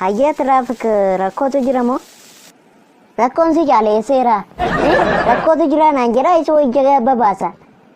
Hayyee tiraafik rakkootu jira moo? Rakkoon si caaleesseera. Rakkootu jira naan jedhaa isa wajjin babaasa.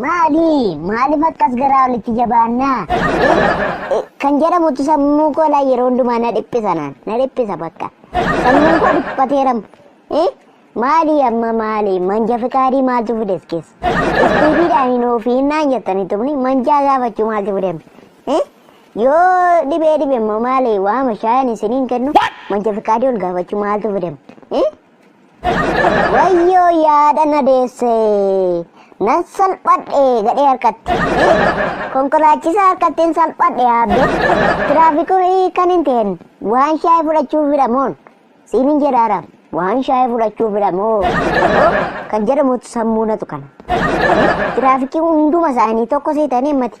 Maali? Maaliif akkas garaa olitti jabaanna? Kan jedhamutu sammuu koo laa yeroo hundumaa na dhiphisa naan. Na dhiphisa bakka. Sammuun koo dhiphateeram. Maali amma maali? Manja fikaadii maaltu fides keessa? Istiifiidhaan hin ofiin naan jettanii tumni manjaa gaafachuu maaltu fidem? Yoo dhibee dhibe immoo maali? Waama shaayan isiniin kennu manja fikaadii ol gaafachuu maaltu fidem? Wayyoo yaada na deesse. Nan salphadhe gadhee harkatti. Konkolaachisaa harkatti hin salphadhe aabbe. Tiraafikii kan hin ta'in waan shaayii fudhachuuf hidhamoon. Siin hin jedhaara waan shaayii fudhachuuf hidhamoo. Kan jedhamutu sammuu natu kana. Tiraafikii hunduma isaanii tokko seetanii mati.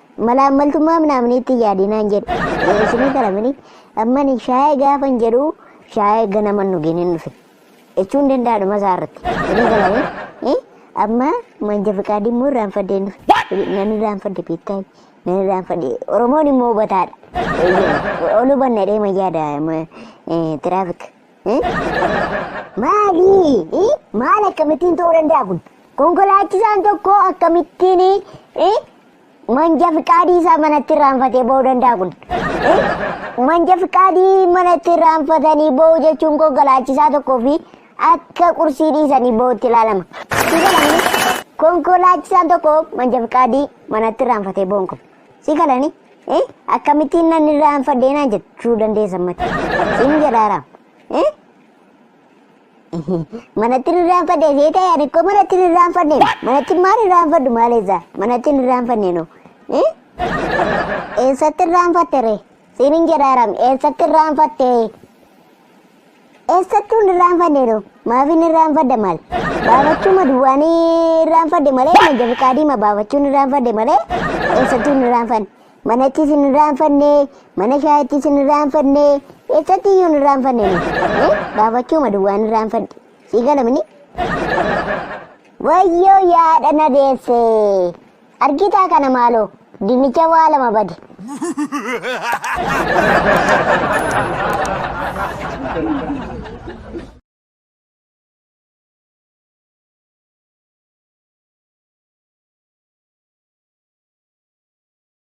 Malaammaltummaa minaaminiitti hin yaadinaan jedhe. Isinii galamini ammani shaayee gaafan jedhu shaayee ganaman dhugeen hin dhufe. Jechuun danda'a dhuma isaa irratti. Isinii galamini amma manja fiqaadii immoo irraanfadhee hin dhufe. Nan irraanfadhe beektaa nan irraanfadhe. Oromoon immoo hubataadha. Ol hubanna jedhee ma yaada tiraafik. Maali? Maal akkamittiin ta'uu danda'a kun? Konkolaachisaan tokko akkamittiin manja fiqaadii isaa manatti irraanfatee ba'uu danda'a kun? Manja fiqaadii manatti irraanfatanii ba'uu jechuun konkolaachisaa tokkoo fi akka qursii dhiisanii ba'utti ilaalama. Konkolaachisaan tokko manja fiqaadii manatti irraanfatee ba'uun kun Si galani eh akkamittiin nan irraa hin fadhee naan jechuu dandeessa mati. Sin jedhaara. Eh? Manatti irraa hin fadhee see ta'e ani koo manatti irraa hin fadhee. Manatti maal irraa hin fadhu maal eessa? Manatti irraa hin fadhee noo. Eh? Eessatti irraa hin fadhe ree? Sin jedhaara eessatti irraa hin fadhee? Eessattuu hin irraanfanne yeroo. Maaf hin irraanfadha maal? Baafachuuma duwwaan irraanfadhe malee manca fiqaadiima baafachuun irraanfadhe malee eessattuu hin irraanfanne. Manattis hin irraanfanne, mana shaayittis hin irraanfanne, eessatti iyyuu hin irraanfanne. Eh? Baafachuuma duwwaan irraanfadhe. Sii galamini? Wayyoo yaadha na deesse. Argitaa kana maaloo dinnicha waa lama bade.